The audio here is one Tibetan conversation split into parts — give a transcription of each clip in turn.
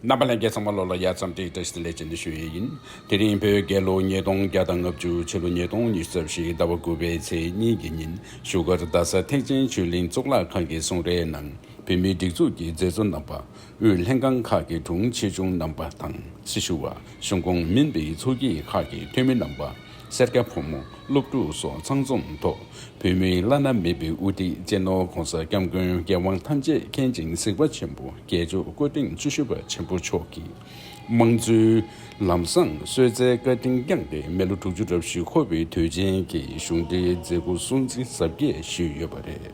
རྣམ་པ་ལྷན་རྒྱས་ཚང་མ་ལོ་ལ་ཡར་ཙམ་དྲེགས་དྲེགས་སེ་ལས་བྱེད་འདི་ཞུ་ཡས་ཡིན། དེ་རིང་བོད་རྒྱལ་ལོ་ཉིས་སྟོང་བརྒྱ་དང་ལྔ་བཅུ་ཕྱི་ལོ་ཉིས་སྟོང་ཉི་རྩ་བཞི་ཟླ་བ་དགུ་པའི་ཚེས་གཉིས་ཀྱི་ཉིན་བཞུགས་སྒར་རྡ་ས་ཐེག་ཆེན་ཆོས་གླིང་གཙུག་ལག་ཁང་གི་གསུང་རའི་ནང་བོད་མིའི་སྒྲིག་འཛུགས་ཀྱི་མཛད་གཙོ་རྣམ་པ་དབུས་ལྷན་ཁང་ཁག་གི་དྲུང་ཆེ་ཆུང་རྣམ་པ་དང་སྲི་ཞུ་བ་གཞུང་ཁོངས་མིན་པའི་ཚོགས་སྐྱིད་ཁག་གི་འཐུས་མི་རྣམ་པ། སེར་སྐྱ་ཕོ་མོ་སློབ་ཕྲུག་སོགས་ཚང་འཛོམས་ཐོག་བོད་མིའི་བླ་ན་མེད་པའི་དབུ་ཁྲིད་གཅེས་ནོར ྋགོང་ས ྋསྐྱབས་མགོན་རྒྱལ་དབང་ཐམས་ཅད་མཁྱེན་ཅིང་གཟིགས་པ་ཆེན་པོ་རྒྱལ་མཆོག་སྐུ་ཕྲེང་བཅུ་བཞི་པ་ཆེན་པོ་མཆོག་གིས་དམངས་གཙོའི་ལམ་བཟང་གསོལ་སྩལ་བཀའ་དྲིན་བསྐྱངས་ཏེ་མི་ལོ་དྲུག་ཅུ་རབ་བཞི་འཁོར་བའི་དུས་ཆེན་གྱི་གཞུང་འབྲེལ་མཛད་སྒོ་སྲུང་བརྩི་གཟབ་རྒྱས་ཞུས་ཡོད་པ་རེད།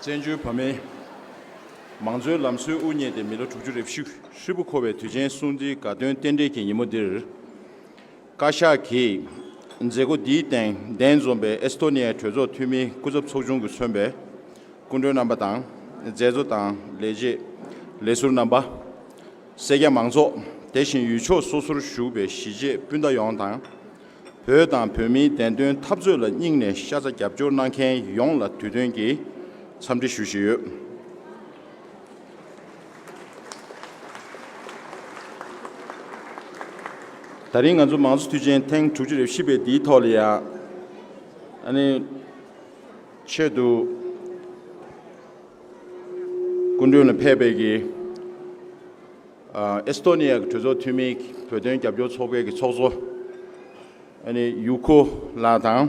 བཙན་བྱོལ་བོད་མིའི་མང་གཙོའི་ལམ་སྲོལ་དབུ་བརྙེས་ཏེ་མི་ལོ་དྲུག་ཅུ་རེ་བཞི་ཧྲིལ་པོ་འཁོར་བའི་དུས་ཆེན་སྲུང་བརྩིའི་དགའ་སྟོན་རྟེན་འབྲེལ་གྱི་ཉིན་མོ་འདིར། བཀའ་ཤག་གིས་མཛད་སྒོ་འདིའི་སྟེང་གདན་འཛོམས་པའི་ཨེས་ཏོ་ནི་ཡའི་གྲོས་ཚོགས་འཐུས་མིའི་སྐུ་ཚབ་ཚོགས་ཆུང་གིས་མཚོན་པའི་སྐུ་མགྲོན་རྣམ་པ་དང་མཛད་གཙོ་དང་ལས་བྱེད་ལས་ཟུར་རྣམ་པ། སེར་སྐྱ་མང་ཚོགས་དེ་བཞིན་ཡུལ་ཕྱོགས་སོ་སོར་བཞུགས་པའི་གཞིས་བྱེས་སྤུན་ཟླ་ཡོངས་དང། བོད་དང་བོད་མིའི་བདེན་དོན་འཐབ་རྩོད་ལ་སྙིང་ནས་ཤ་ཚ་རྒྱབ་སྐྱོར་གནང་མཁན་ཡོངས་ལ་དུས་སྟོན་གྱི་འཚམས་འདྲི་ཞུ་བཞིན་ཡོད། ད་རིང་ང་ཚོ་མང་གཙོ་དུས་ཆེན་ཐེངས་དྲུག་ཅུ་རེ་བཞི་པའི་འདིའི་ཐོག་ལ་ཡང། ཆེད་དུ། སྐུ་མགྲོན་ལ་ཕེབས་པའི་གིས། ཨེས་ཏོ་ནི་ཡཱ་གི་གྲོས་ཚོགས་འཐུས་མིའི་བོད་དོན་རྒྱབ་སྐྱོར་ཚོགས་པའི་གི་ཚོགས་གཙོ། ཡུ་ཁོ་ལགས་དང།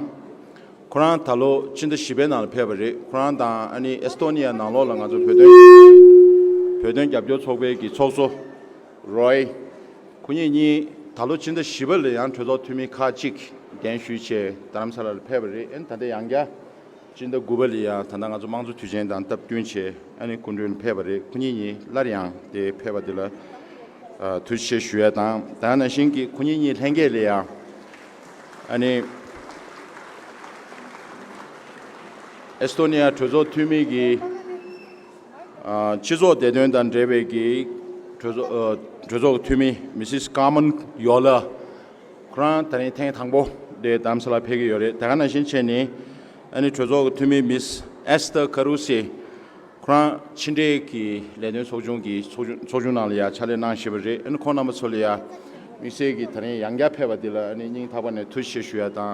ཁོ་རང་ད་ལོ་ཕྱི་ཟླ་བཞི་པའི་ནང་ལ་ཕེབས་པ་རེད་ཁོ་རང་དང་ཨེས་ཏོ་ནི་ཡཱ་ནང་ལོགས་ལ་ང་ཚོ་བོད་དོན་བོད་དོན་རྒྱབ་སྐྱོར་ཚོགས་པའི་གི་ཚོགས་གཙོ། Roy། ཁོ་གཉིས་གཉིས་ད་ལོ་ཕྱི་ཟླ་བཞི་པ་ལ་ཡང་གྲོས་ཚོགས་འཐུས་མི་ཁག་གཅིག་གདན་ཞུས་ཆེད་རྡ་རམ་ས་ལ་ལ་ཕེབས་པ་རེད་ད་ལྟ་ཡང་བསྐྱར་སྤྱི་ཟླ་དགུ་པ་ལས་ཡང་ད་ལྟ་ང་ཚོ་དམངས་གཙོ་དུས་ཆེན་དང་སྟབས་བསྟུན་བྱས་ཨ་ནི་སྐུ་མགྲོན་ཕེབས་པ་རེད་ཁོ་གཉིས་གཉིས་སླར་ཡང་དེ་ཕེབས་པ་དེ་ལ་ཐུགས་ཆེ་ཞུ་ཡ་དང་ད་ན་བཞིན་གྱི་ཁོ་གཉིས་གཉིས་ལྷན་རྒྱས་ལས་ཡང་ཨ་ནི་ཨེས་ཏོ་ནི་ཡ་གྲོས་ཚོགས་འཐུས་མི་གིས་སྤྱི་ཚོགས་བདེ་དོན་དང་འབྲེལ་བའི་གིས་གྲོས་ཚོགས་གྲོས་ཚོགས་འཐུས་མི་མི་སིས་ཀཱ་མོན་ཡོ་ལ། ཁོ་རང་ད་ནི་ཐེངས་དང་པོ་དེ་གདམ་ས་ལ་ཕེབས་ཀྱི་ཡོད་རེད་དེ་ག་ནང་བཞིན་བྱས་ནས་ཨ་ནི་གྲོས་ཚོགས་ཀྱི་འཐུས་མི་མིས་ཨེས་ཐེར་ཁ་རུ་སེ་ཁོ་རང་ཕྱི་འབྲེལ་གྱི་ལས་དོན་ཚོགས་ཆུང་གི་ཚོགས་ཆུང་ནང་ལ་ཡང་ཕྱག་ལས་གནང་ཞེས་པ་རེད་ཨ་ནི་ཁོང་རྣམ་པ་ཚོ་ལ་ཡང་དམིགས་བསལ་གྱིས་ད་ནི་ཡང་བསྐྱར་ཕེབས་པ་འདི་ལ་ཨ་ནི་སྙིང་ཐག་པ་ནས་ཐུགས་རྗེ་ཆེ་ཞུ་ཡ་དང་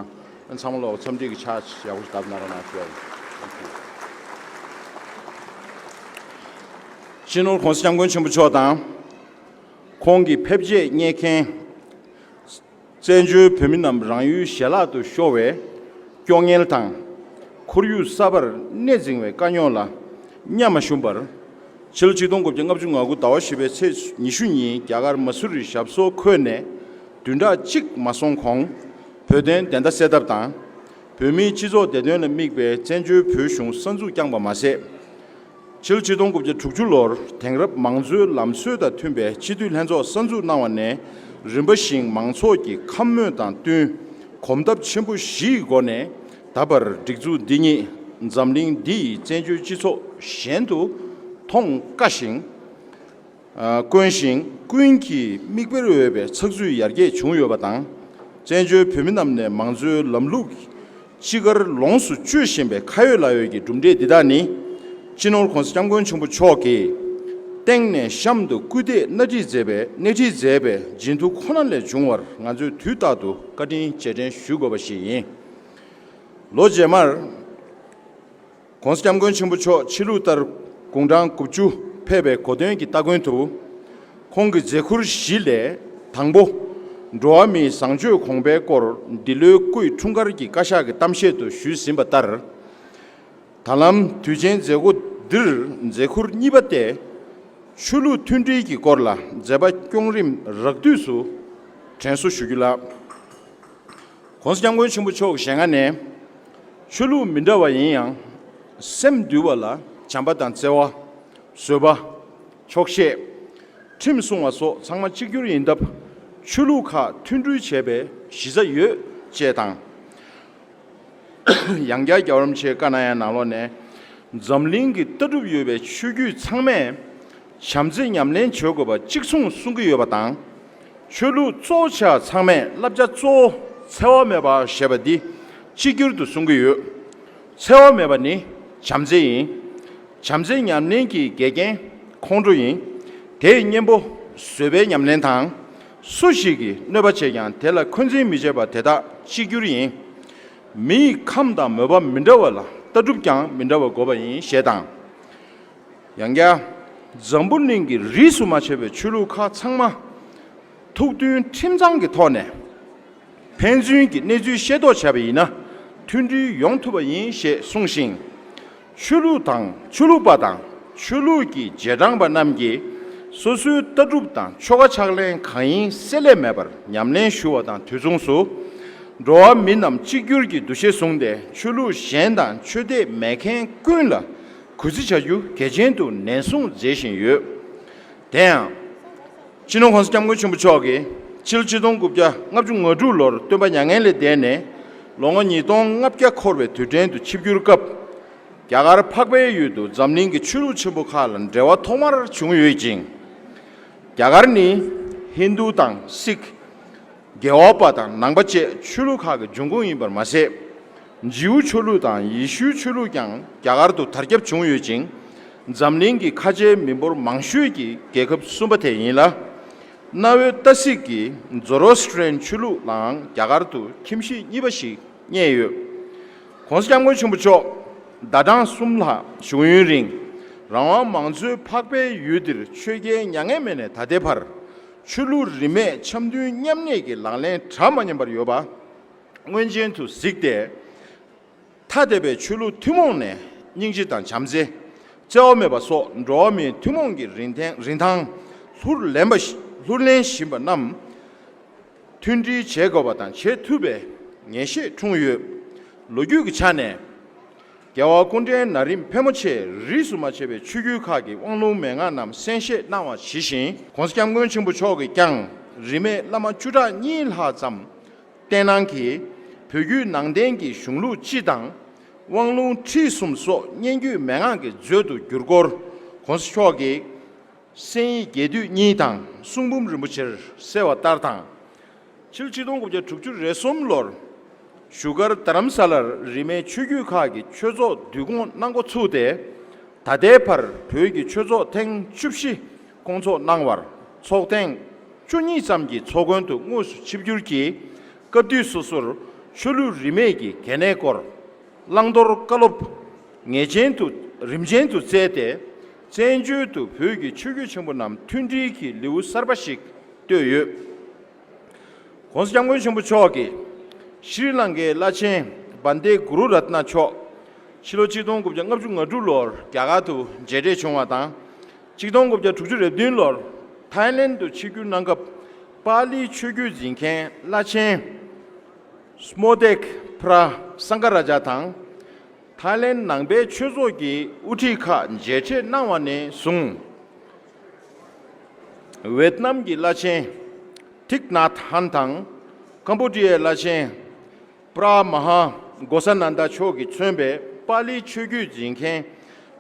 ཨ་ནི་ཚང་མ་ལོག་འཚམས་འདྲི་གི་ཕྱག་ཡག་པོ་ཞིག་བདམས་གནང་རོགས་གནང་ཞུ་ཡ་ཡིན Thank you སྤྱི་ནོར་གོང་ས་སྐྱབས་མགོན་ཆེན་པོ་མཆོག་དང། ཁོང་གི་ཕེབས་རྗེས་རྙེད་མཁན། བཙན་བྱོལ་བོད་མི་རྣམས་རང་ཡུལ་ཞལ་ལག་ཏུ་ཤོར་བའི་སྐྱོ་ངལ་དང། ཁོར་ཡུག་གསར་པར་གནས་འཛིང་བའི་དཀའ་རྙོག་ལ་གཉའ་མ་ཞུམ་པར། ཕྱི་ལོ་ཆིག་སྟོང་དགུ་བརྒྱ་ལྔ་བཅུ་ང་དགུ་ཟླ་བ་བཞི་པའི་ཚེས་ཉི་ཤུ་ཉིན་རྒྱ་གར་མ་སུ་རི་ཞབས་སོ་ཁོལ་ནས་བདུན་ཕྲག་གཅིག་མ་སོང་གོང་བོད་དོན་བདེན་མཐའ་སེལ་ཐབས་དང། བོད་མིའི་སྤྱི་ཚོགས་བདེ་དོན་ལ་དམིགས་པའི་བཙན་བྱོལ་བོད་གཞུང་གསར་འཛུགས་བསྐྱངས་པ་མ་ཟད། ཕྱི་ལོ་ཆིག་སྟོང་དགུ་བརྒྱ་དྲུག་ཅུ་ལོར་དེང་རབས་མང་གཙོའི་ལམ་སྲོལ་དང་མཐུན་པའི་སྤྱི་འཐུས་ལྷན་ཚོགས་གསར་འཛུགས་གནང་བ་ནས་རིམ་པ་བཞིན་མང་ཚོགས་ཀྱི་ཁམས་དམོད་དང་བསྟུན་གོམ་སྟབས་ཆེན་པོ་བཞི་ཡི་སྒོ་ནས་ད་བར་སྒྲིག་འཛུགས་འདི་ཉིད་འཛམ་གླིང་འདི་ཡི་བཙན་བྱོལ་སྤྱི་ཚོགས་གཞན་དུ་མཐོང་དཀའ་ཞིང། དཀོན་ཞིང་ཀུན་གྱིས་མིག་དཔེར་འོས་པའི་ཚགས་ཚུད་ཡར་རྒྱས་བྱུང་ཡོད་པ་དང། བཙན་བྱོལ་བོད་མི་རྣམས་ནས་མང་གཙོའི་ལམ་ལུགས་ཅི་དགར་ལོངས་སུ་སྤྱོད་བཞིན་པའི་ཁ་ཡོད་ལག་ཡོད་ཀྱི་གྲུབ་འབྲས་འདི་དག་ནི། སྤྱི་ནོར ྋགོང་ས ྋསྐྱབས་མགོན་ཆེན་པོ་མཆོག་གིས་སྟེང་ནས་གཤམ་དུ་སྐུལ་འདེད་སྣེ་ཁྲིད་མཛད་པའི་སྣེ་ཁྲིད་མཛད་པའི་སྦྱིན་མཐུ་ཁོ་ན་ལས་བྱུང་བར་ང་ཚོས་དུས་རྟག་ཏུ་བཀའ་དྲིན་རྗེས་དྲན་ཞུ་དགོས་པ་ཞིག་ཡིན། ལོ་རྗེས་མར། ྋགོང་ས ྋསྐྱབས་མགོན་ཆེན་པོ་མཆོག་ཕྱི་ལུགས་ལྟར་དགུང་གྲངས་དགུ་བཅུ་ཕེབས་པའི་གོ་སྟོན་གྱི་སྟ་གོན་དུ། ཁོང་གི་མཛད་ཁུར་བཞི་ལས་དང་པོ། འགྲོ་བ་མིའི་བཟང་སྤྱོད་གོང་འཕེལ་སྐོར་འདི་ལོའི་སྐུའི་འཁྲུངས་སྐར་གྱི་བཀའ་ཤག་གི་གཏམ་བཤད་དུ་ཞུས་ཟིན་པ་ལྟར། ད་ལམ་དུས་ཆེན་མཛད་སྒོ་འདིར་མཛད་ཁུར་གཉིས་པ་སྟེ། ཆོས་ལུགས་མཐུན་སྒྲིལ་གྱི་སྐོར་ལ་མཛད་པ་སྐྱོང་རིམ་རགས་བསྡུས་སུ་དྲན་གསོ་ཞུ་རྒྱུ་ལགས། གོང་ས་སྐྱབས་མགོན་ཆེན་པོ་མཆོག་ཞལ་སྔ་ནས། ཆོས་ལུགས་མི་འདྲ་བ་ཡིན་ཡང། སེམས་འདུལ་བ་ལ་བྱམས་པ་དང་བརྩེ་བ། བཟོད་པ། ཆོག་ཤེས། ཁྲིམས་སྲུང་བ་སོགས་ཚང་མ་གཅིག་གྱུར་ཡིན་སྟབས། ཆོས་ལུགས་ཁག་མཐུན་སྒྲིལ་བྱས་པའི་གཞི་རྩ་ཡོད། ཅེས་དང། ཡང་བསྐྱར་རྒྱ་རོམ་ཆེ་ཀ་ན་ཡ་ནང་ལོགས་ནས། འཛམ་གླིང་གི་ལྟ་གྲུབ་ཡོད་པའི་ཆོས་བརྒྱུད་ཚང་མས། བྱམས་བརྩེ་ཉམས་ལེན་བྱེད་དགོས་པ་གཅིག་མཚུངས་གསུང་གི་ཡོད་པ་དང། ཆོས་ལུགས་གཙོ་བྱས་ཚང་མས་བསླབ་བྱ་གཙོ་བོ་འཚེ་བ་མེད་པ་ཞེས་པ་འདི་གཅིག་གྱུར་དུ་གསུང་གི་ཡོད། འཚེ་བ་མེད་པ་ནི་བྱམས་བརྩེ་ཡིན། བྱམས་བརྩེ་ཉམས་ལེན་གྱི་འགལ་རྐྱེན་ཁོང་ཁྲོ་ཡིན། དེས་གཉེན་པོ་བཟོད་པའི་ཉམས་ལེན་དང། སུ་ཞིག་གིས་གནོད་པ་བྱས་ཀྱང་དེ་ལ་འཁོན་འཛིན་མི་བྱེད་པ་དེ་དག་གཅིག་གྱུར་ཡིན། མི་ཡི་ཁམས་དང་མོས་པ་མི་འདྲ་བ་ལ་ལྟ་གྲུབ་ཀྱང་མི་འདྲ་བ་དགོས་པ་ཡིན་ཞེས་དང། ཡང་བརྒྱ། འཛམ་བུ་གླིང་གི་རིས་སུ་མ་ཆད་པའི་ཆོས་ལུགས་ཁག་ཚང་མ། ཐུགས་མཐུན་ཁྲིམས་གཙང་གི་ཐོག་ནས། ཕན་ཚུན་གྱི་གནས་ཚུལ་ཤེས་རྟོགས་བྱས་པ་ཡིན་ན། མཐུན་སྒྲིལ་ཡོང་ཐུབ་པ་ཡིན་ཞེས་གསུངས་ཤིང། ཆོས་ལུགས་དང་ཆོས་ལུགས་པ་དང་ཆོས་ལུགས་ཀྱི་རྗེས་འབྲང་པ་རྣམས་ཀྱིས་སོ་སོའི་ལྟ་གྲུབ་དང་ཆོ་ག་ཕྱག་ལེན་གང་ཡིན་བསྲེ་ལྷད་མེད་པར་ཉམས་ལེན་ཞུ་བ་དང་དུས་མཚུངས་སུ། འགྲོ་བ་མི་རྣམས་གཅིག་གྱུར་གྱི་འདུ་ཤེས་བཟུང་སྟེ་ཆོས་ལུགས་གཞན་དང་ཆོས་དད་མེད་མཁན་ཀུན་ལ། གུས་བརྩི་བྱ་རྒྱུ་གལ་ཆེན་དུ་ནན་གསུངས་མཛད་བཞིན་ཡོད། དེ་ཡང། སྤྱི་ནོར ྋགོང་ས ྋསྐྱབས་མགོན་ཆེན་པོ་མཆོག་གིས་ཕྱི་ལོ་ཆིག་སྟོང་དགུ་བརྒྱ་ལྔ་བཅུ་ང་དྲུག་ལོར་སྟོན་པ་མྱ་ངན་ལས་འདས་ནས་ལོ་ངོ་ཉིས་སྟོང་ལྔ་བརྒྱ་འཁོར་བའི་དུས་དྲན་དུ་ཆིབས་བསྒྱུར་སྐབས། རྒྱ་གར་འཕགས་པའི་ཡུལ་དུ་འཛམ་གླིང་གི་ཆོས་ལུགས་ཆེན་པོ་ཁག་ལ་འབྲེལ་བ་ཐོག་མར་བྱུང་ཡོད་ཅིང། རྒྱ་གར་ནི་ཧིན་རྡུ་དང་སིག། རྒྱལ་བ་པ་དང་ནང་པ་བཅས་ཆོས་ལུགས་ཁག་གི་འབྱུང་ཁུངས་ཡིན་པར་མ་ཟད། རྗིའུ་ཆོས་ལུགས་དང་ཡེ་ཤུའི་ཆོས་ལུགས་ཀྱང་རྒྱ་གར་དུ་དར་ཁྱབ་བྱུང་ཡོད་ཅིང། འཛམ་གླིང་གི་ཁ་ཆེའི་མི་འབོར་མང་ཤོས་ཀྱི་རྒྱལ་ཁབ་གསུམ་པ་དེ་ཡིན་ལ། གནའ་བོའི་ཏཱ་སིག་གི Zoroastrian ཆོས་ལུགས་ལའང་རྒྱ་གར་དུ་ཁྱིམ་གཞིས་གཉིས་པ་ཞིག་རྙེད་ཡོད། གོང་ས་སྐྱབས་མགོན་ཆེན་པོ་མཆོག་ཟླ་གྲངས་གསུམ་ལྷག་བཞུགས་ཡུན་རིང་རང་དབང་མང་གཙོའི་འཕགས་པའི་ཡུལ་འདིར་ཆོས་རྒྱལ་མྱ་ངན་མེད་ནས་ད་ལྟའི་བར། ཆོས་ལུགས་རིས་མེད་འཆམ་མཐུན་མཉམ་གནས་ཀྱི་ལག་ལེན་གྲངས་མ་ཉམས་པར་ཡོད་པ་མངོན་ཅན་དུ་གཟིགས་ཏེ། ཐ་དད་པའི་ཆོས་ལུགས་ཐུན་མོང་ནས་སྙིང་རྗེ་དང་བྱམས་བརྩེ། བརྩེ་བ་མེད་པ་སོགས་འགྲོ་བ་མིའི་ཐུན་མོང་གི་རིན་ཐང་ལྷུར་ལེན་བཞིན་པ་རྣམས་མཐུན་སྒྲིལ་བྱེད་དགོས་པ་དང་བྱེད་ཐུབ་པའི་ངེས་ཤེས་འཁྲུངས་ཡོད། ལོ་རྒྱུས་ཀྱི་ཆ་ནས། རྒྱལ་བ་ཀུན་འདྲའི་ན་རིམ་ཕལ་མོ་ཆེས་རིས་སུ་མ་ཆད་པའི་ཆོས་བརྒྱུད་ཁག་གི་དབང་ལུང་མན་ངག་རྣམས་གསན་བཞེས་གནང་བ་ཇི་བཞིན། གོང་སྐྱབས་མགོན་ཆེན་པོ་མཆོག་གིས་ཀྱང་རིས་མེད་བླ་མ་བཅུ་ཕྲག་གཉིས་ལྷག་ཙམ་བསྟེན་གནང་གིས་བོད་བརྒྱུད་ནང་བསྟན་གྱི་གཞུང་ལུགས་སྤྱི་དང། དབང་ལུང་ཁྲིད་གསུམ་སོགས་སྙན་བརྒྱུད་མན་ངག་གི་མཛོད་དུ་བསྒྱུར་སྐོར ྋགོང་ས་མཆོག་གིས་གསན་ཡིག་རྒྱས་བསྡུས་གཉིས་དང་གསུང་འབུམ་རིན་པོ་ཆེར་གསལ་བ་ལྟར་དང། ཕྱི་ལོ་ཆིག་སྟོང་དགུ་བརྒྱ་དྲུག་ཅུ་རེ་གསུམ་ལོར་བཞུགས་སྒར་རྡ་རམ་ས་ལར་རིས་མེད་ཆོས་བརྒྱུད་ཁག་གི་ཆོས་ཚོགས་བསྡུ་སྐོང་གནང་འགོ་ཚུགས་ཏེ། ད་ལྟའི་བར་བོད་ཀྱི་ཆོས་ཚོགས་ཐེངས་བཅུ་བཞི་སྐོང་ཚོགས་གནང་བར་ཚོགས་ཐེངས་བཅུ་གཉིས་ཙམ་གྱི་ཚོགས་མགོན་དུ་དངོས་སུ་ཆིབས་བསྒྱུར་གྱིས་སྐབས་དུས་སོ་སོར་ཆོས་ལུགས་རིས་མེད་ཀྱི་གལ་གནད་སྐོར་བླང་དོར་བཀའ་སློབ་ངེས་ཅན་དུ་རིམ་ཅན་དུ་སྩལ་ཏེ། བཙན་བྱོལ་དུ་བོད་ཀྱི་ཆོས་བརྒྱུད་ཆེན་པོ་རྣམས་མཐུན་སྒྲིལ་གྱི་ལེའུ་གསར་པ་ཞིག་བཏོད་ཡོད། ྋགོང་ས ྋསྐྱབས་མགོན་ཆེན་པོ་མཆོག་གིས་ཤྲཱི་ལངྐའི་བླ་ཆེན Bhante Guru Ratna མཆོག་ཕྱི་ལོ་གཅིག་སྟོང་དགུ་བརྒྱ་ལྔ་བཅུ་ང་དྲུག་ལོར་རྒྱ་གར་དུ་མཇལ་འཕྲད་བྱུང་བ་དང། གཅིག་སྟོང་དགུ་བརྒྱ་དྲུག་ཅུ་རེ་བདུན་ལོར Thailand དུ་ཆིབས་བསྒྱུར་གནང་སྐབས་པ་ལིའི་ཆོས་བརྒྱུད་འཛིན་མཁན་བླ་ཆེན Smotek Phra Sangaraja དང། ཐའི་ལེན་ནང་པའི་ཆོས་ཚོགས་ཀྱི་དབུ་ཁྲིད་ཁག་མཇལ་འཕྲད་གནང་བ་ནས་བཟུང། ཝེད་ནམ་གྱི་བླ་ཆེན Thich Nhat Hanh དང་ཀམ་པོ་ཏི་ཡའི་བླ་ཆེན Phra Maha Ghosananda མཆོག་གིས་མཚོན་པའི་པཱ་ལིའི་ཆོས་བརྒྱུད་འཛིན་མཁན་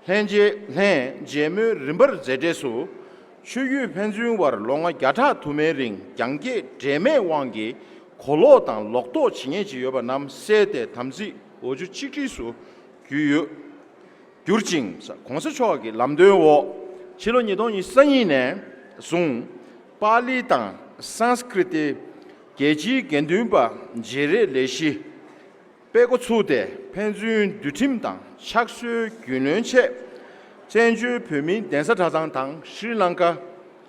ལྷན་མཇལ་མོལ་རིམ་པར་མཛད་འབྲས་སུ། ཆོས་བརྒྱུད་ཕན་ཚུན་དབར་ལོ་ང་བརྒྱ་ཕྲག་དུ་མའི་རིང་རྒྱང་བཀྱེད་འབྲེལ་མེད་དབང་གིས་གོ་ལོག་དང་ལོག་རྟོག་ཇི་སྙེད་ཅིག་ཡོད་པ་རྣམས་བསལ་ཏེ་དམ་ཚིག་ལོ་རྒྱུས་གཅིག་སྒྲིལ་སུ་བརྒྱུད་ཡོད། གྱུར་ཅིང། གོང་ས་མཆོག་གི་ལམ་སྟོན་འོག་ཕྱི་ལོ་ཉིས་སྟོང་ཉིས་གསང་གཉིས་ནས་བཟུང། པཱ་ལི་དང Sanskrit། རྒྱལ་སྤྱིའི་དགེ་འདུན་པ་བརྗེ་རེས་ལས་གཞི། སྤེལ་འགོ་ཚུགས་ཏེ་ཕན་ཚུན་འདུལ་ཁྲིམས་དང་ཕྱག་སྲོལ་རྒྱུས་ལོན་ཆེད། བཙན་བྱོལ་བོད་མིའི་གདན་ས་གྲྭ་ཚང་དང་ཤྲི་ལངྐ།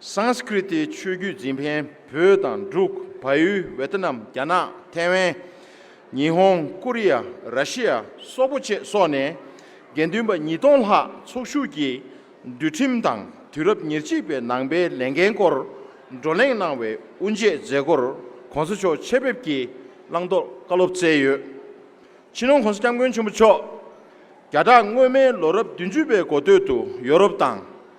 Sanskriti ཆོས་བརྒྱུད་འཛིན་ཕན་བོད་དང་འབྲུག་བའུ་ཝེ་ཏི་ནམ་རྒྱ་ནག་ཐེ་ཝན། ཉི་ཧོང་ཀོ་རི་ཡ་ར་ཤི་ཡ་སོག་པོ་བཅས་སོགས་ནས་དགེ་འདུན་པ་ཉིས་སྟོང་ལྷག་ཚོགས་ཞུགས་ཀྱིས་འདུལ་ཁྲིམས་དང་དུས་རབས་ཉེར་གཅིག་པའི་ནང་པའི་ལས་འགན་སྐོར་བགྲོ་གླེང་གནང་བའི་དབུ་འབྱེད་མཛད་སྒོར་གོང་ས་མཆོག་ཆེད་ཕེབས་ཀྱིས་བླང་དོར་བཀའ་སློབ་བསྩལ་ཡོད། ཕྱི་ནང་གོང་ས་སྐྱབས་མགོན་ཆེན་པོ་མཆོག་རྒྱ་གྲགས་སྔོན་མའི་ལོ་རབས་བདུན་ཅུ་པའི་འགོ་སྟོད་དུ་ཡོ་རོབ་དང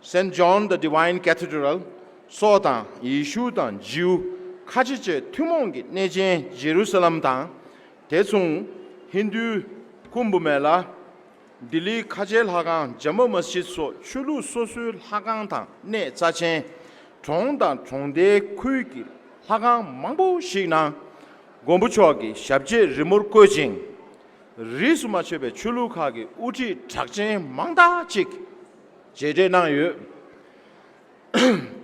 Saint John the Divine Cathedral། སོགས་དང་ཡེ་ཤུ་དང་རྗེའུ་ཁ་ཆེ་བཅས་ཐུན་མོང་གི་གནས་ཆེན་ཇེ་རུ་ས་ལམ་དང། དེ་མཚུངས་ཧིན་དུའི་ཀུམ་བྷུ་མེ་ལ། ལྡི་ལིའི་ཁ་ཆེའི་ལྷ་ཁང Jama Masjid སོགས་ཆོས་ལུགས་སོ་སོའི་ལྷ་ཁང་དང་གནས་རྩ་ཆེན། གྲོང་དང་གྲོང་རྡལ་ཁུལ་གྱི་ལྷ་ཁང་མང་པོ་ཞིག་ནང་མགོན་པོ་མཆོག་གི་ཞབས་རྗེས་རི་མོར་བཀོད་ཅིང། རིས་སུ་མ་ཆད་པའི་ཆོས་ལུགས་ཁག་གི་དབུ་ཁྲིད་གྲགས་ཅན་མང་དག་ཅིག་བཅད་འགྲེལ་གནང་ཡོད།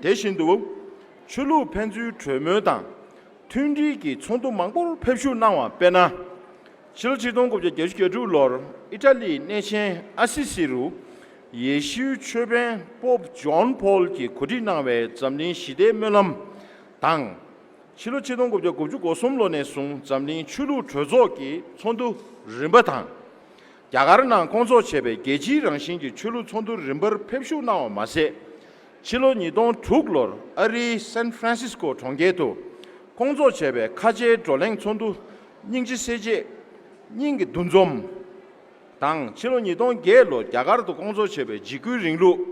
དེ་བཞིན་དུ། ཆོས་ལུགས་ཕན་ཚུན་གྲོས་མོལ་དང་མཐུན་སྒྲིལ་གྱི་ཚོགས་འདུ་མང་པོར་ཕེབས་བཞུགས་གནང་བ་དཔེར་ན། ཕྱི་ལོ་ཆིག་སྟོང་དགུ་བརྒྱ་བརྒྱད་ཅུ་གྱ་དྲུག་ལོར་ཨི་ཏྲ་ལིའི་གནས་ཆེན་ཨ་སི་སི་རུ་ཡེ་ཤུའི་ཆོས་དཔོན Pope John Paul གྱིས་གོ་སྒྲིག་གནང་བའི་འཛམ་གླིང་ཞི་བདེའི་སྨོན་ལམ་དང། ཕྱི་ལོ་ཆིག་སྟོང་དགུ་བརྒྱ་དགུ་བཅུ་གོ་གསུམ་ལོ་ནས་བཟུང་འཛམ་གླིང་ཆོས་ལུགས་གྲོས་ཚོགས་ཀྱི་ཚོགས་འདུ་རིམ་པ་དང། རྒྱ་གར་ནང་སྐོང་འཚོགས་བྱས་པའི་རྒྱལ་སྤྱིའི་རང་བཞིན་གྱི་ཆོས་ལུགས་ཚོགས་འདུར་རིམ་པར་ཕེབས་བཞུགས་གནང་བ་མ་ཟད། ཕྱི་ལོ་ཉིས་སྟོང་དྲུག་ལོར་ཨ་རིའི San Francisco གྲོང་ཁྱེར་དུ་སྐོང་འཚོགས་བྱས་པའི་ཁ་ཆེའི་བགྲོ་གླེང་ཚོགས་འདུ་སྙིང་རྗེ་སྲས་བཅས། སྙིང་གི་འདུ་འཛོམས། དང་ཕྱི་ལོ་ཉིས་སྟོང་བརྒྱད་ལོར་རྒྱ་གར་དུ་སྐོང་འཚོགས་བྱས་པའི་འཇིགས་སྐུལ་རིང་ལུགས་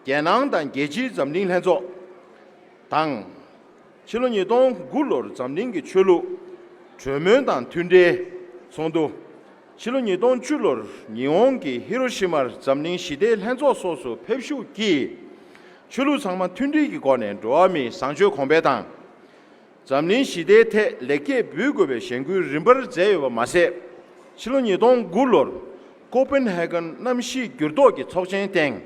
རྒྱལ་ནང་དང་རྒྱལ་སྤྱིའི་འཛམ་གླིང་ལྷན་ཚོགས་དང། ཕྱི་ལོ་ཉིས་སྟོང་དགུ་ལོར་འཛམ་གླིང་གི་ཆོས་ལུགས་གྲོས་མོལ་དང་མཐུན་འབྲེལ་ཚོགས་འདུ། ཕྱི་ལོ་ཉིས་སྟོང་བཅུ་ལོར་ཉི་ཧོང་གི་ཧི་རོ་ཤི་མར་འཛམ་གླིང་ཞི་བདེའི་ལྷན་ཚོགས་སོགས་སུ་ཕེབས་ཞུགས་ཀྱིས། ཆོས་ལུགས་ཚང་མ་མཐུན་སྒྲིལ་གྱི་སྒོ་ནས་འགྲོ་བ་མིའི་བཟང་སྤྱོད་གོང་འཕེལ་དང། འཛམ་གླིང་ཞི་བདེའི་ཐད་ལེགས་སྐྱེས་འབུལ་དགོས་པའི་གཞེན་སྐུལ་རིམ་པར་མཛད་ཡོད་པ་མ་ཟད། ཕྱི་ལོ་ཉིས་སྟོང་དགུ་ལོར་ཀོ་པེན་ཧའེ་ཀོན་གནམ་གཤིས་འགྱུར་ལྡོག་གི་ཚོགས་ཆེན་སྟེང་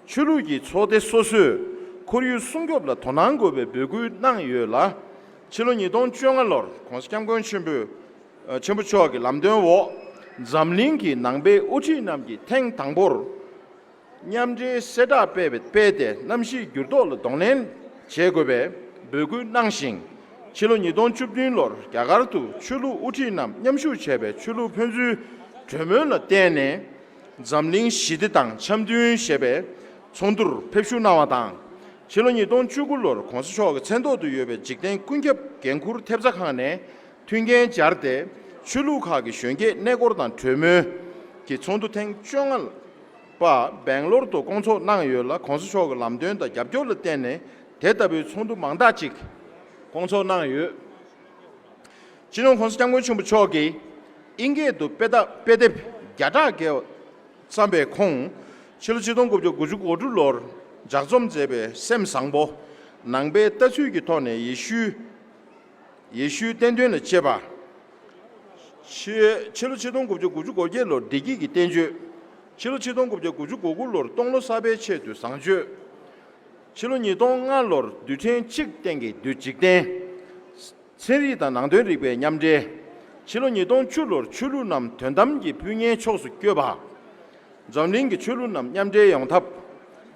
ཆོས་ལུགས་ཀྱི་ཚོགས་སྡེ་སོ་སོས་ཁོར་ཡུལ་སྲུང་སྐྱོབ་ལ་དོ་སྣང་དགོས་པའི་འབོད་སྐུལ་གནང་ཡོད་ལ། ཕྱི་ལོ་ཉིས་སྟོང་བཅོ་ལྔ་ལོར ྋགོང་ས ྋསྐྱབས་མགོན་ཆེན་པོཆེན་པོ་མཆོག་གི་ལམ་སྟོན་འོག་འཛམ་གླིང་གི་ནང་པའི་དབུ་ཁྲིད་རྣམས་ཀྱིས་ཐེངས་དང་པོར་མཉམ་འབྲེལ་གསལ་བསྒྲགས་སྤེལ་ཏེ་གནམ་གཤིས་འགྱུར་ལྡོག་ལ་གདོང་ལེན་བྱེད་དགོས་པའི་འབོད་སྐུལ་གནང་ཞིང། ཕྱི་ལོ་ཉིས་སྟོང་བཅུ་བདུན་ལོར་རྒྱ་གར་དུ་ཆོས་ལུགས་དབུ་ཁྲིད་རྣམས་མཉམ་ཞུགས་བྱས་པའི་ཆོས་ལུགས་ཕན་ཚུན་གྲོས་མོལ་ལ་བརྟེན་ནས། འཛམ་གླིང་ཞི་བདེ་དང་འཆམ་མཐུན་ཞེས་པའི་ཚོགས་འདུར་ཕེབས་བཞུགས་གནང་བ་དང། ཕྱི་ལོ་ཉིས་སྟོང་བཅུ་དགུ་ལོར་གོང་ས་མཆོག་གི་མཚན་ཐོག་ཏུ་ཡོད་པའི་འཇིག་རྟེན་ཀུན་ཁྱབ་འགན་འཁུར་ཐེབས་རྩ་ཁང་ནས་མཐུན་རྐྱེན་སྦྱར་ཏེ་ཆོས་ལུགས་ཁག་གི་གཞོན་སྐྱེས་གནས་སྐོར་དང་གྲོས་མོལ་གྱི་ཚོགས་འདུ་ཐེངས་བཅོ་ལྔ་པ་སྦེང་ལོར་དུ་སྐོང་ཚོགས་གནང་ཡོད་ལ་གོང་ས་མཆོག་གི་ལམ་སྟོན་དང་རྒྱབ་སྐྱོར་ལ་བརྟེན་ནས་དེ་ལྟ་བུའི་ཚོགས་འདུ་མང་དག་ཅིག་སྐོང་ཚོགས་གནང་ཡོད། སྤྱི་ནོར་ཁོང་སྐྱབས་མགོན་ཆེན་པོ་མཆོག་གིས་ཨིན་སྐད་དུ་དཔེ་དེབ་བརྒྱ་ཕྲག་འགའ་བརྩམས་པའི་ཁོང་ཕྱི་ལོ་ཆིག་སྟོང་དགུ་བརྒྱ་དགུ་ཅུ་གོ་དྲུག་ལོར་ལྗགས་རྩོམ་མཛད་པའི་སེམས་བཟང་པོ་ནང་པའི་ལྟ་ཚུལ་གྱི་ཐོག་ནས་ཡེ་ཤུའི་བསྟན་དོན་ལ་དཔྱད་པ། ཕྱི་ལོ་ཆིག་སྟོང་དགུ་བརྒྱ་དགུ་ཅུ་གོ་བརྒྱད་ལོར་བདེ་སྐྱིད་ཀྱི་བསྟན་བཅོས། ཕྱི་ལོ་ཆིག་སྟོང་དགུ་བརྒྱ་དགུ་ཅུ་གོ་དགུ་ལོར་སྟོང་ལོ་གསར་པའི་ཆེད་དུ་བཟང་སྤྱོད། ཕྱི་ལོ་ཉིས་སྟོང་ལྔ་ལོར་རྡུལ་ཕྲན་གཅིག་སྟེང་གི་འཇིག་རྟེན། ཚན་རིག་དང་ནང་དོན་རིག་པའི་མཉམ་འབྲེལ། ཕྱི་ལོ་ཉིས་སྟོང་བཅུ་ལོར་ཆོས་ལུགས་རྣམས་དོན་དམ་གྱི་སྤུན་ཉེའི་ཕྱོགས་སུ་བསྐྱོད་པ། འཛམ་གླིང་གི་ཆོས་ལུགས་རྣམས་མཉམ་འབྲེལ་ཡོང་ཐབས།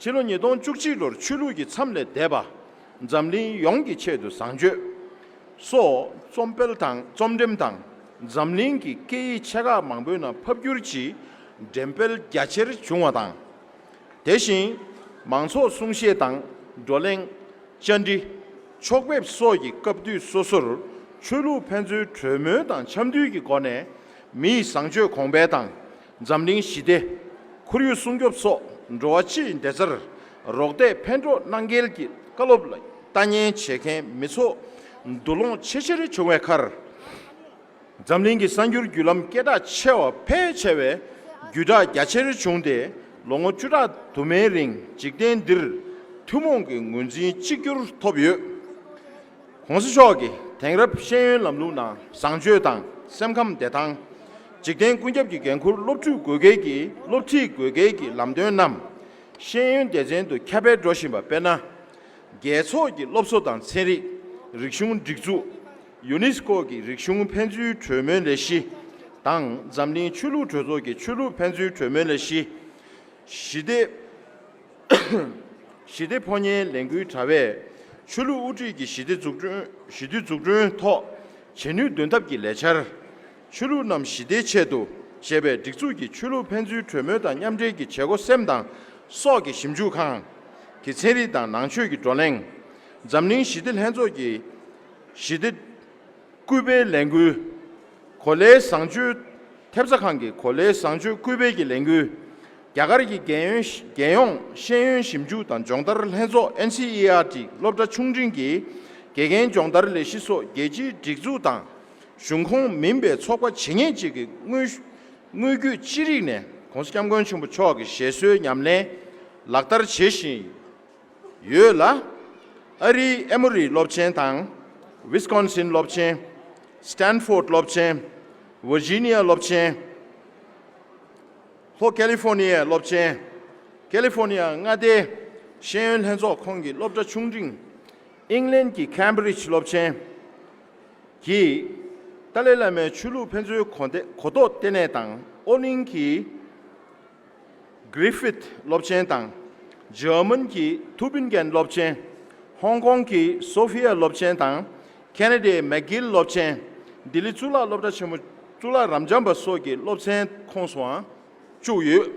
ཕྱི་ལོ་ཉིས་སྟོང་བཅུ་གཅིག་ལོར་ཆོས་ལུགས་ཀྱི་མཚམས་ལས་འདས་པ། འཛམ་གླིང་ཡོངས་ཀྱི་ཆེད་དུ་བཟང་སྤྱོད། སོགས་རྩོམ་སྤེལ་དང་རྩོམ་འགྲེམས་དང་འཛམ་གླིང་གི་སྐད་ཡིག་ཆེ་ཁག་མང་པོའི་ནང་ཕབ་བསྒྱུར་གྱིས་འགྲེམས་སྤེལ་རྒྱ་ཆེར་བྱུང་བ་དང། དེ་བཞིན་མང་ཚོགས་གསུང་བཤད་དང་བགྲོ་གླེང། བཅར་འདྲི། ཕྱོགས་ཕེབས་སོགས་ཀྱི་སྐབས་དུས་སོ་སོར་ཆོས་ལུགས་ཕན་ཚུན་གྲོས་མོལ་དང་འཆམ་མཐུན་གྱི་སྒོ་ནས་མི་ཡི་བཟང་སྤྱོད་གོང་འཕེལ་དང་འཛམ་གླིང་ཞི་བདེ། ཁོར་ཡུག་སྲུང་སྐྱོབ་སོགས་འགྲོ་བ་སྤྱིའི་བདེ་རྩར་རོགས་འདེགས་ཕན་གྲོགས་གནང་གལ་གྱི་བཀའ་སློབ་ལ་ལྟ་ཉན་བྱེད་མཁན་མི་ཚོགས་འདུ་ལོངས་ཆེ་ཆེར་བྱུང་བའི་ཁར། འཛམ་གླིང་གི་གསར་འགྱུར་བརྒྱུད་ལམ་སྐད་གྲགས་ཆེ་བ་ཕལ་ཆེ་བས་བརྒྱུད་བསྒྲགས་རྒྱ་ཆེར་བྱུང་སྟེ་ལོ་ངོ་བཅུ་ཕྲག་དུ་མའི་རིང་འཇིག་རྟེན་འདིར་ཐུན་མོང་གི་ངོས་འཛིན་གཅིག་གྱུར་ཐོབ་ཡོད། གོང་ས་མཆོག་གིས་དེང་རབས་ཤེས་ཡོན་ལམ་ལུགས་ནང་བཟང་སྤྱོད་དང་སེམས་ཁམས་བདེ་ཐང། འཇིག་རྟེན་ཀུན་ཁྱབ་ཀྱི་འགན་འཁུར་སློབ་ཕྲུག་དགོས་གལ་གྱི་སློབ་ཁྲིད་དགོས་གལ་གྱི་ལམ་སྟོན་རྣམས་ཤེས་ཡོན་སྡེ་ཚན་དུ་ཁྱབ་སྤེལ་འགྲོ་བཞིན་པ་དཔེར་ན། རྒྱལ་ཚོགས་ཀྱི་སློབ་གསོ་དང་ཚན་རིག་རིག་གཞུང་སྒྲིག་འཛུགས། ཡུ་ནི་སི་ཀོ་གི་རིག་གཞུང་ཕན་ཚུན་གྲོས་མོལ་ལས་གཞི་དང་འཛམ་གླིང་ཆོས་ལུགས་གྲོས་ཚོགས་ཀྱི་ཆོས་ལུགས་ཕན་ཚུན་གྲོས་མོལ་ལས་གཞི། ཞི་བདེ་ཞི་བདེ་ཕོ་ཉའི་ལས་འགུལ་དྲ་བས་ཆོས་ལུགས་དབུ་ཁྲིད་ཀྱི་ཞི་བདེ་འཛུགས་སྐྲུན་ཞི་དུལ་འཛུགས་སྐྲུན་ཐོག་བྱེད་ནུས་འདོན་ཐབས་ཀྱི་ལས་འཆར། ཆོས་ལུགས་རྣམས་ཞི་བདེའི་ཆེད་དུ་ཞེས་པའི་སྒྲིག་འཛུགས་ཀྱི་ཆོས་ལུགས་ཕན་ཚུན་གྲོས་མོལ་དང་མཉམ་འབྲེལ་གྱི་བྱེད་སྒོ་སེམས་དང་སྲོག་གི་ཞིབ་འཇུག་ཁང་གི་ཚན་རིག་དང་ནང་ཆོས་ཀྱི་བགྲོ་གླེང། འཛམ་གླིང་ཞི་བདེ་ལྷན་ཚོགས་ཀྱི། ཞི་བདེ། སྐུལ་སྤེལ་ལས་འགུལ། གོ་ལའི་བཟང་སྤྱོད། ཐེབས་རྩ་ཁང་གི་གོ་ལའི་བཟང་སྤྱོད་སྐུལ་སྤེལ་གྱི་ལས་འགུལ། རྒྱ་གར་གྱི་རྒྱལ་ཡོངས་ཤེས་ཡོན་ཞིབ་འཇུག་དང་སྦྱོང་བརྡར་ལྷན་ཚོགས （NCERT） སློབ་གྲྭ་ཆུང་འབྲིང་གི་དགེ་རྒན་སྦྱོང་བརྡར་ལས་གཞི་སོགས་རྒྱལ་སྤྱིའི་སྒྲིག་འཛུགས་དང་གཞུང་ཁོངས་མིན་པའི་ཚོགས་པ་ཇི་སྙེད་ཅིག་གིས་དངོས་བརྒྱུད་ཅི་རིགས་ནས ྋགོང་ས ྋསྐྱབས་མགོན་ཆེན་པོ་མཆོག་གི་བཞེད་སྲོལ་ཉམས་ལེན་ལག་བསྟར་བྱེད་བཞིན་ཡོད། ཡོད་ལ། ཨ་རིའི་ཨེ་མོ་རི་སློབ་ཆེན་དང། Wisconsin སློབ་ཆེན། Stanford སློབ་ཆེན། Virginia སློབ་ཆེན། ལྷོ་ཀེ་ལི་ཧྥོ་ནི་ཡའི་སློབ་ཆེན། California མངའ་སྡེའི་ཤེས་ཡོན་ལྷན་ཚོགས་ཁོངས་ཀྱི་སློབ་གྲྭ་ཆུང་འབྲིང། ཨིང་ལན་གྱི་ཁན་བྷི་རིཇ་སློབ་ཆེན། གྱིས། ཏཱ་ལའི་བླ་མའི་ཆོས་ལུགས་ཕན་ཚུན་གོ་གཏོགས་ལྟེ་གནས་དང་ཨོ་གླིང་གི། Griffith སློབ་ཆེན་དང། German གྱི Tübingen སློབ་ཆེན། Hong Kong གྱི Sophia སློབ་ཆེན་དང། Canada ཡི McGill སློབ་ཆེན། ལྡི་ལི་གཙུག་ལག་སློབ་གྲྭ་ཆེན་མོ་གཙུག་ལག་རབ་འབྱམས་པ་སོགས་ཀྱི་སློབ་ཚན་ཁོངས་སུའང་བཅུག་ཡོད།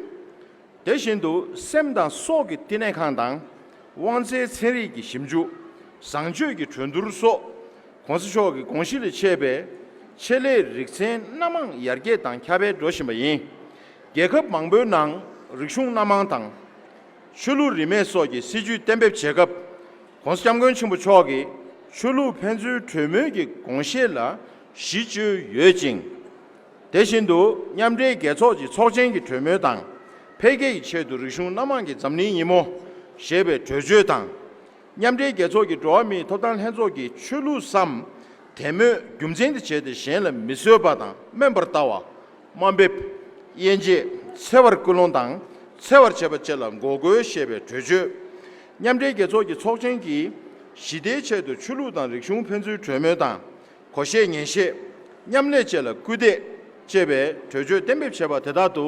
དེ་བཞིན་དུ་སེམས་དང་སྲོག་གི་བསྟི་གནས་ཁང་དང། དབང་རྩའི་ཚན་རིག་གི་ཞིབ་འཇུག། བཟང་སྤྱོད་ཀྱི་གྲོས་བསྡུར་སོགས ྋགོང་ས་མཆོག་གི་དགོངས་གཞི་ལས་མཆེད་པའི་ཆེད་ལས་རིག་ཚན་སྣ་མང་ཡར་རྒྱས་དང་ཁྱབ་སྤེལ་འགྲོ་བཞིན་པ་ཡིན། རྒྱལ་ཁབ་མང་པོའི་ནང་རིག་གཞུང་སྣ་མང་དང། ཆོས་ལུགས་རིས་མེད་སོགས་ཀྱི་སྲིད་བྱུས་གཏན་འབེབས་བྱེད་སྐབས། གོང་ས་སྐྱབས་མགོན་ཆེན་པོ་མཆོག་གིས་ཆོས་ལུགས་ཕན་ཚུན་གྲོས་མོལ་གྱི་དགོངས་བཞེད་ལ་གཞི་བཅོལ་ཡོད་ཅིང། དེ་བཞིན་དུ་མཉམ་འབྲེལ་རྒྱལ་ཚོགས་ཀྱི་ཚོགས་ཆེན་གྱི་གྲོས་མོལ་དང་འཕེལ་རྒྱས་ཀྱི་ཆེད་དུ་རིག་གཞུང་སྣ་མང་གིས་འཛམ་གླིང་ཉིན་མོ་ཞེས་པའི་གྲོས་ཆོད་དང། མཉམ་འབྲེལ་རྒྱལ་ཚོགས་ཀྱི་འགྲོ་བ་མིའི་ཐོབ་ཐང་ལྷན་ཚོགས་ཀྱི་ཆོས་ལུགས་སམ། དད་མོས་རྒྱུ་མཚན་དུ་བྱས་ཏེ་གཞན་ལ་མི་གསོད་པ་དང་དམན་པར་ལྟ་བ། དམའ་འབེབས། དབྱེ་འབྱེད། འཚེ་བར་སྐུལ་སློང་དང་འཚེ་བར་བྱེད་པ་བཅས་ལ་འགོག་རྒོལ་བྱེད་པའི་གྲོས་ཆོད། མཉམ་འབྲེལ་རྒྱལ་ཚོགས་ཀྱི་ཚོགས་ཆེན་གྱིས་ཞི་བདེའི་ཆེད་དུ་ཆོས་ལུགས་དང་རིག་གཞུང་ཕན་ཚུན་གྲོས་མོལ་དང་གོ་བཤད་ཉན་བཤད། མཉམ་ལས་བཅས་ལ་སྐུལ་འདེད། ཅེས་པའི་གྲོས་ཆོད་གཏན་འབེབས་བྱས་པ་དེ་དག་ཏུ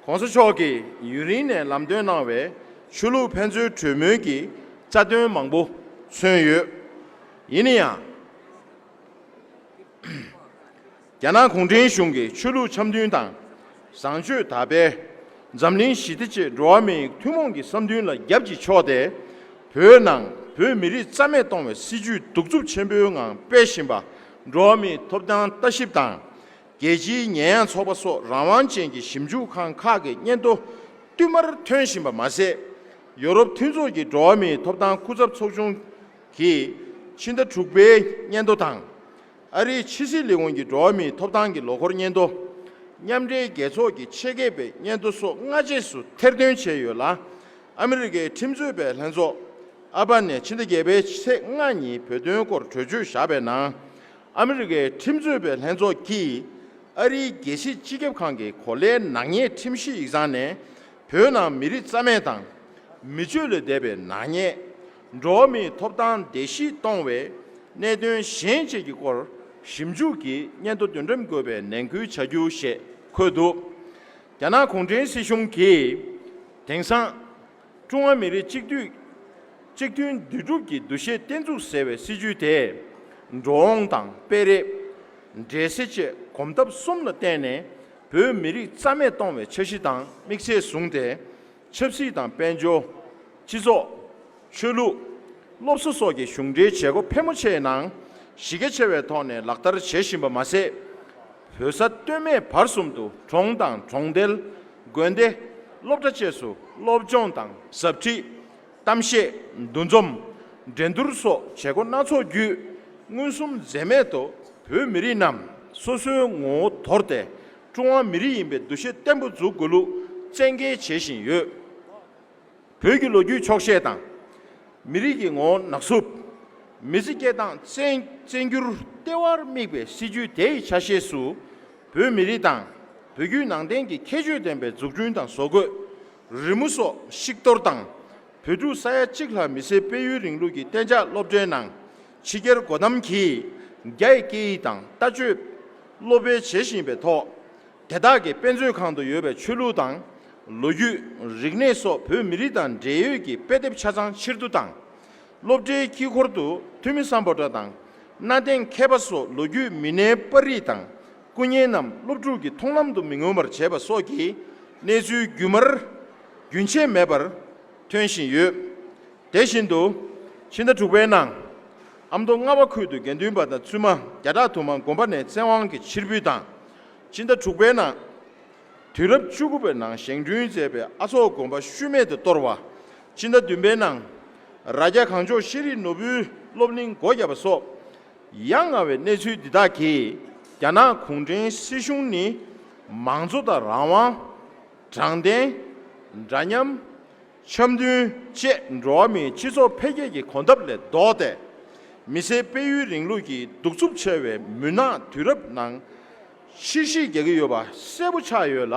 ྋགོང་ས་མཆོག་གིས་ཡུན་རིང་ནས་ལམ་སྟོན་གནང་བའི་ཆོས་ལུགས་ཕན་ཚུན་གྲོས་མོལ་གྱི་རྩ་དོན་མང་པོ་མཚོན་ཡོད། ཡིན་ན་ཡང། རྒྱ་ནག་གུང་ཁྲན་གཞུང་གིས་ཆོས་ལུགས་འཆམ་མཐུན་དང་བཟང་སྤྱོད་དར་སྤེལ། འཛམ་གླིང་ཞི་བདེ་བཅས་འགྲོ་བ་མིའི་ཐུན་མོང་གི་བསམ་འདུན་ལ་རྒྱབ་ཀྱིས་ཕྱོགས་ཏེ། བོད་ནང་བོད་མི་རིགས་རྩ་མེད་གཏོང་བའི་སྲིད་ཇུས་གདུག་རྩུབ་ཆེན་པོའི་ངང་སྤེལ་བཞིན་པ། འགྲོ་བ་མིའི་ཐོབ་ཐང་ལྟ་ཞིབ་དང་རྒྱལ་སྤྱིའི་ཉེས་ཡངས་ཚོགས་པ་སོགས་རང་དབང་ཅན་གྱི་ཞིབ་འཇུག་ཁང་ཁག་གི་སྙན་ཐོ་བསྟུད་མར་ཐོན་བཞིན་པ་མ་ཟད། ཡོ་རོབ་མཐུན་ཚོགས་ཀྱི་འགྲོ་བ་མིའི་ཐོབ་ཐང་སྐུ་ཚབ་ཚོགས་ཆུང་གིས་ཕྱི་ཟླ་དྲུག་པའི་སྙན་ཐོ་དང། ཨ་རིའི་ཕྱི་སྲིད་ལས་ཁུངས་ཀྱིས་འགྲོ་བ་མིའི་ཐོབ་ཐང་གི་ལོ་འཁོར་སྙན་ཐོ། མཉམ་འབྲེལ་རྒྱལ་ཚོགས་ཀྱི་ཆེད་མཁས་པའི་སྙན་ཐོ་སོགས་སྔ་རྗེས་སུ་ཐེར་འདོན་བྱས་ཡོད་ལ། ཨ་མི་རི་ཀའི་ཁྲིམས་རྩོད་པའི་ལྷན་ཚོགས། ཨལ་པ་ནེ་ཕྱི་ཟླ་བརྒྱད་པའི་ཚེས་ལྔ་ཉིན་བོད་དོན་སྐོར་གྲོས་ཆོད་བཞག་པའི་ནང། ཨ་མི་རི་ཀའི་ཁྲིམས་རྩོད་པའི་ལྷན་ཚོགས་ཀྱིས་ཨ་རིའི་རྒྱལ་སྲིད་སྤྱི་ཁྱབ་ཁང་གི་གོ་ལའི་ནག་ཉེས་ཁྲིམས་གཞི་ཡིག་ཚང་ནས་བོད་ནང་མི་རིགས་རྩ་མེད་དང། མི་སྤྱོད་ལས་འདས་པའི་ནག་ཉེས། འགྲོ་བ་མིའི་ཐོབ་ཐང་བརྡལ་བཤིག་གཏོང་བའི་གནད་དོན་གཞན་བཅས་ཀྱི་སྐོར་ཞིབ་འཇུག་གིས་སྙན་ཐོ་དོན་དྲན་འགོད་པའི་ནན་སྐུལ་བྱ་རྒྱུ་ཞེས་འཁོད་འདུག་རྒྱ་ནག་གུང་ཁྲན་སྲིད་གཞུང་གིས་དེང་སང། ཀྲུང་ཧྭ་མི་རིགས་གཅིག་སྡུད། གཅིག་མཐུན་འདུས་གྲུབ་ཀྱི་འདུ་ཤེས་བརྟན་ཚུགས་ཟེར་བའི་སྲིད་ཇུས་དེས། འགྲོ་འོང་དང་སྤེལ་རེས། འདྲེས་སེལ་བཅས་གོམ་སྟབས་གསུམ་ལ་བརྟེན་ནས་བོད་མི་རིགས་རྩ་མེད་གཏོང་བའི་འཆར་གཞི་དང་དམིགས་ཚད་བཟུང་སྟེ། ཆབ་སྲིད་དང་དཔལ་འབྱོར། སྤྱི་ཚོགས། ཆོས་ལུགས། སློབ་གསོ་སོགས་ཀྱི་གཞུང་འབྲེལ་བྱེད་སྒོ་ཕལ་མོ་ཆེའི་ནང་གཞི་རྒྱ་ཆེ་བའི་ཐོག་ནས་ལག་བསྟར་བྱེད་བཞིན་པ་མ་ཟད། བོད་ས་སྟོད་སྨད་བར་གསུམ་དུ་གྲོང་དང་གྲོང་རྡལ། དགོན་སྡེ། སློབ་གྲྭ་བཅས་སུ་སློབ་སྦྱོང་དང་ཟབ་ཁྲིད། གཏམ་བཤད། འདུ་འཛོམས། འགྲན་བསྡུར་སོགས་བྱེད་སྒོ་སྣ་ཚོགས་བརྒྱུད། མངོན་སུམ་འཛེམས་མེད་དུ་བོད་མི་རིགས་རྣམས་སོ་སོའི་ངོ་བོ་དོར་ཏེ་ཀྲུང་ཧྭ་མི་རིགས་ཡིན་པའི་འདུ་ཤེས་བརྟན་པོ་འཛུགས་དགོས་ལུགས་བཙན་འགེལ་བྱེད་བཞིན་ཡོད། བོད་ཀྱི་ལོ་རྒྱུས་འཁྱོག་བཤད་དང། མི་རིགས་ཀྱི་ངོ་བོ་ནག་སུབ། མི་ཚེ་སྐྱེལ་སྟངས་བཙན་འགྱུར་ལྟེ་བར་དམིགས་པའི་སྲིད་ཇུས་དེའི་ཆ་ཤས་སུ། བོད་མི་རིགས་དང་བོད་བརྒྱུད་ནང་བསྟན་གྱི་ཁྱད་ཆོས་ལྡན་པའི་འཛུགས་སྐྲུན་དང་བཟོ་བཀོད། རི་མོ་སོགས་བཤིག་གཏོར་དང། བོད་ཕྲུག་ས་ཡ་གཅིག་ལྷག་མི་སེར་སྤེལ་ཡུལ་རིང་ལུགས་ཀྱི་གཏན་འཇགས་སློབ་གྲྭའི་ནང་ཕྱི་རྒྱལ་སྒོ་རྣམས་ཀྱིས་རྒྱ་ཡི་སྐད་ཡིག་དང་ལྟ་སྤྱོད་སློབ་སྤེལ་བྱེད་བཞིན་པའི་ཐོག་དེ་དག་གི་དཔེ་མཛོད་ཁང་དུ་ཡོད་པའི་ཆོས་ལུགས་དང་ལོ་རྒྱུས་རིག་གནས་སོགས་བོད་མི་རིགས་དང་འབྲེལ་ཡོད་ཀྱི་དཔེ་དེབ་ཆ་ཚང་ཕྱིར་བསྡུ་དང། སློབ་གྲྭའི་དཀྱིལ་འཁོར་དུ་ཐུ་མི་སམ་པོ་ཏྲ་དང་གནའ་དེང་མཁས་པ་སོགས་ལོ་རྒྱུས་མི་སྣའི་པར་རིས་དང་སྐུ་བརྙན་རྣམས་སློབ་ཕྲུག་གི་མཐོང་ལམ་དུ་མི་མངོན་པར་བྱས་པ་སོགས་ཀྱི་གནས་ཚུལ་རྒྱུན་མར་རྒྱུན་ཆད་མེད་པར་ཐོན་བཞིན་ཡོད། དེ་བཞིན་དུ། ཕྱི་ཟླ་དྲུག་པའི་ནང། ཨ་མདོ་རྔ་བ་ཁུལ་དུ་དགེ་འདུན་པ་དང་བཙུན་མ་བརྒྱ་ཕྲག་དུ་མ་དགོན་པ་ནས་བཙན་དབང་གིས་ཕྱིར་འབུད་དང། ཕྱི་ཟླ་དྲུག་པའི་ནང། དུས་རབས་བཅུ་དགུ་པའི་ནང་བཞེངས་བསྐྲུན་མཛད་པའི་ཨ་ཚོགས་དགོན་པ་ཤུལ་མེད་དུ་གཏོར་བ། ཕྱི་ཟླ་བདུན་པའི་ནང། རྭ་རྒྱ་གངས་ལྗོངས་ཤེས་རིག་ནོར་བུའི་སློབ་གླིང་སྒོ་བརྒྱབ་པ་སོགས། ཡ་ང་བའི་གནས་ཚུལ་འདི་དག་གིས་རྒྱ་ནག་གུང་ཁྲན་སྲིད་གཞུང་ནི་མང་གཙོ་དང་རང་དབང། དྲང་བདེན། འདྲ་མཉམ། འཆམ་མཐུན་བཅས་འགྲོ་བ་མིའི་སྤྱི་ཚོགས་འཕེལ་རྒྱས་ཀྱི་གོམ་སྟབས་ལས་ལྡོག་སྟེ། མི་སེར་སྤེལ་ཡུལ་རིང་ལུགས་ཀྱི་གདུག་རྩུབ་ཆེ་བའི་མུན་ནག་དུས་རབས་ནང་ཕྱིར་གཞིས་རྒྱག་གི་ཡོད་པ་གསལ་པོ་ཆགས་ཡོད་ལ།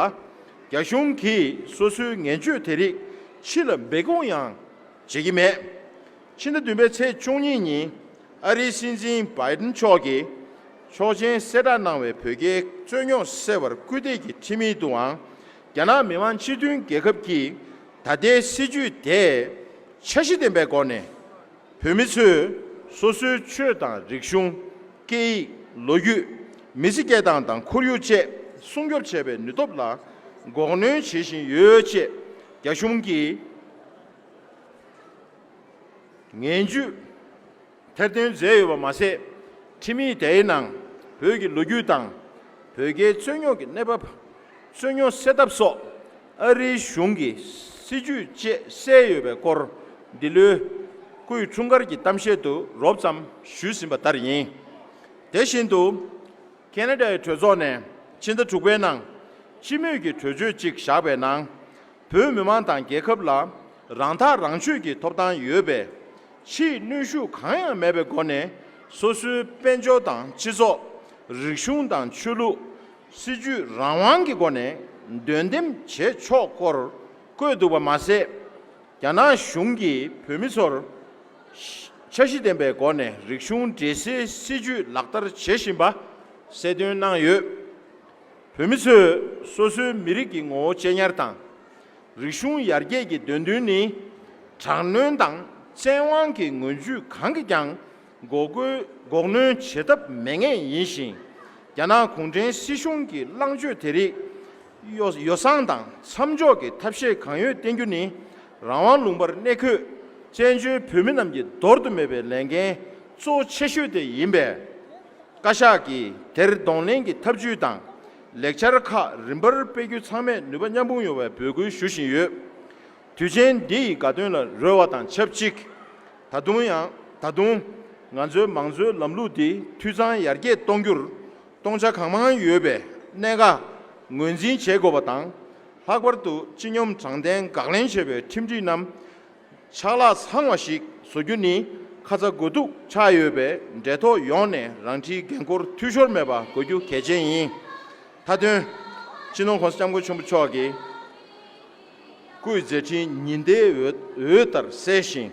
རྒྱ་གཞུང་གིས་སོ་སོའི་ངན་སྤྱོད་དེ་རིགས་ཕྱི་ལ་འབད་ཁུངས་ཡང་བྱེད་ཀྱི་མེད། ཕྱི་ཟླ་བདུན་པའི་ཚེས་བཅུ་གཉིས་ཉིན་ཨ་རིའི་སྲིད་འཛིན Biden མཆོག་གིས་ཆོག་མཆན་གསལ་བསྒྲགས་གནང་བའི་བོད་རྒྱའི་རྩོད་རྙོག་སེལ་བར་སྐུལ་འདེད་ཀྱི་ཁྲིམས་ཡིག་ཏུའང་རྒྱ་ནག་མི་དམངས་སྤྱི་མཐུན་རྒྱལ་ཁབ་ཀྱིས་ད་ལྟའི་སྲིད་བྱུས་དེས་འཆར་གཞི་ལྡན་པའི་སྒོ་ནས་བོད་མི་ཚོས་སོ་སོའི་ཆོས་དང་རིག་གཞུང། སྐད་ཡིག། ལོ་རྒྱུས། མི་ཚེ་སྐྱེལ་སྟངས་དང་ཁོར་ཡུག་བཅས་སྲུང་སྐྱོབ་བྱེད་པའི་ནུས་སྟོབས་ལ་འགོག་གནོན་བྱེད་བཞིན་ཡོད་ཅེས་རྒྱ་གཞུང་གིས། ངན་ཇུས་ཐེར་འདོན་མཛད་ཡོད་པ་མ་ཟད། ཁྲིམས་ཡིག་དེའི་ནང་བོད་ཀྱི་ལོ་རྒྱུས་དང་བོད་རྒྱའི་རྩོད་རྙོག་གི་གནས་བབ། རྩོད་རྙོག་སེལ་ཐབས་སོགས་ཨ་རིའི་གཞུང་གི་སྲིད་ཇུས་བཅས་གསལ་ཡོད་པའི་སྐོར་འདི་ལོའི་སྐུའི་འཁྲུངས་སྐར་གྱི་གཏམ་བཤད་དུ་རོབ་ཙམ་ཞུས་ཟིན་པ་ལྟར་ཡིན། དེ་བཞིན་དུ། ཀན་ལྷ་ཡི་གྲོས་ཚོགས་ནས་ཕྱི་ཟླ་དྲུག་པའི་ནང་སྤྱི་མོས་ཀྱི་གྲོས་ཆོད་ཅིག་བཞག་པའི་ནང། བོད་མི་མང་དང་རྒྱལ་ཁབ་ལ་རང་ཐག་རང་གཅོད་ཀྱི་ཐོབ་ཐང་ཡོད་པས། ཕྱིའི་གནོན་ཤུགས་གང་ཡང་མེད་པའི་སྒོ་ནས་སོ་སོའི་དཔལ་འབྱོར་དང་སྤྱི་ཚོགས། རིག་གཞུང་དང་ཆོས་ལུགས། སྲིད་ཇུས་རང་དབང་གི་སྒོ་ནས་འདོན་འདེམ་བྱེད་ཆོག་སྐོར་བཀོད་འདུག་པ་མ་ཟད། རྒྱ་ནག་གཞུང་གིས་བོད་མི་ཚོར། འཆར་གཞི་ལྡན་པའི་སྒོ་ནས་རིག་གཞུང་འདྲེས་སའི་སྲིད་ཇུས་ལག་བསྟར་བྱེད་བཞིན་པ་གསལ་སྟོན་གནང་ཡོད། བོད་མི་ཚོས་སོ་སོའི་མི་རིགས་ཀྱི་ངོ་བོ་གཅེས་ཉར་དང། རིག་གཞུང་ཡར་རྒྱས་ཀྱི་འདོད་འདུན་ནི་དྲག་གནོན་དང་བཙན་དབང་གི་ངོས་བརྒྱུད་གང་གིས་ཀྱང་འགོག་གནོན་བྱེད་ཐབས་མེད་ངེས་ཡིན་ཞིང། རྒྱ་ནག་གུང་ཁྲན་སྲིད་གཞུང་གི་བླང་སྤྱོད་དེ་རིགས་ཡོ་བསྲང་དང་མཚམས་འཇོག་གི་ཐབས་ཤེས་གང་ཡོད་བསྟེན་རྒྱུ་ནི་རང་དབང་ལུང་པར་གནས་འཁོད་བཙན་བྱོལ་བོད་མི་རྣམས་ཀྱི་འདོར་དུ་མེད་པའི་ལས་འགན་གཙོ་ཆེ་ཤོས་དེ་ཡིན་པས། བཀའ་ཤག་གིས་དེར་གདོང་ལེན་གྱི་ཐབས་ཇུས་དང་ལེགས་ཆར་ཁག་རིམ་པར་སྤེལ་རྒྱུ་ཚང་མས་ནུས་པ་མཉམ་སྤུངས་ཡོང་བའི་འབོད་སྐུལ་ཞུ་བཞིན་ཡོད། དུས་ཆེན་འདི་ཡི་དགའ་སྟོན་ལ་རོལ་བ་དང་ཆབས་ཅིག་ད་དུང་ཡང་ད་དུང་ང་ཚོའི་མང་གཙོའི་ལམ་ལུགས་འདི་འཐུས་ཚང་ཡར་རྒྱས་གཏོང་རྒྱུར་སྟོང་ཆ་གང་མང་ཡོད་པའི་གནད་འགག་ངོས་འཛིན་བྱེད་དགོས་པ་དང། ལྷག་པར་དུ་སྤྱི་སྙོམས་དྲང་བདེན་དགག་ལེན་བྱེད་པའི་ཁྲིམས་སྒྲིག་རྣམས་ཆག་ལྷག་ཚང་བ་ཞིག་བཟོ་རྒྱུ་ནི་ཁ་ཚ་དགོས་གཏུག་ཆགས་ཡོད་པས་འབྲེལ་ཐོགས་ཡོངས་ནས་རང་འཁྲིའི་འགན་འཁུར་འཐུས་ཤོར་མེད་པ་དགོས་རྒྱུ་གལ་ཆེན་ཡིན། མཐའ་དོན། སྤྱི་ནོར ྋསྐྱབས་མགོན་ཆེན་པོ་མཆོག་གི་སྐུའི་མཛད་འཕྲིན་ཉི་ཟླའི་འོད་ལྟར་གསལ་ཞིང།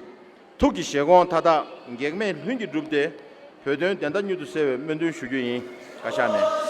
ཐུགས་ཀྱི་བཞེད་དགོངས་མཐའ་དག་གེགས་མེད་ལྷུན་གྱིས་འགྲུབ་སྟེ་བོད་དོན་བདེན་མཐའ་མྱུར་དུ་གསལ་བའི་སྨོན་འདུན་ཞུ་རྒྱུ་ཡིན། བཀའ་ཤག་ནས།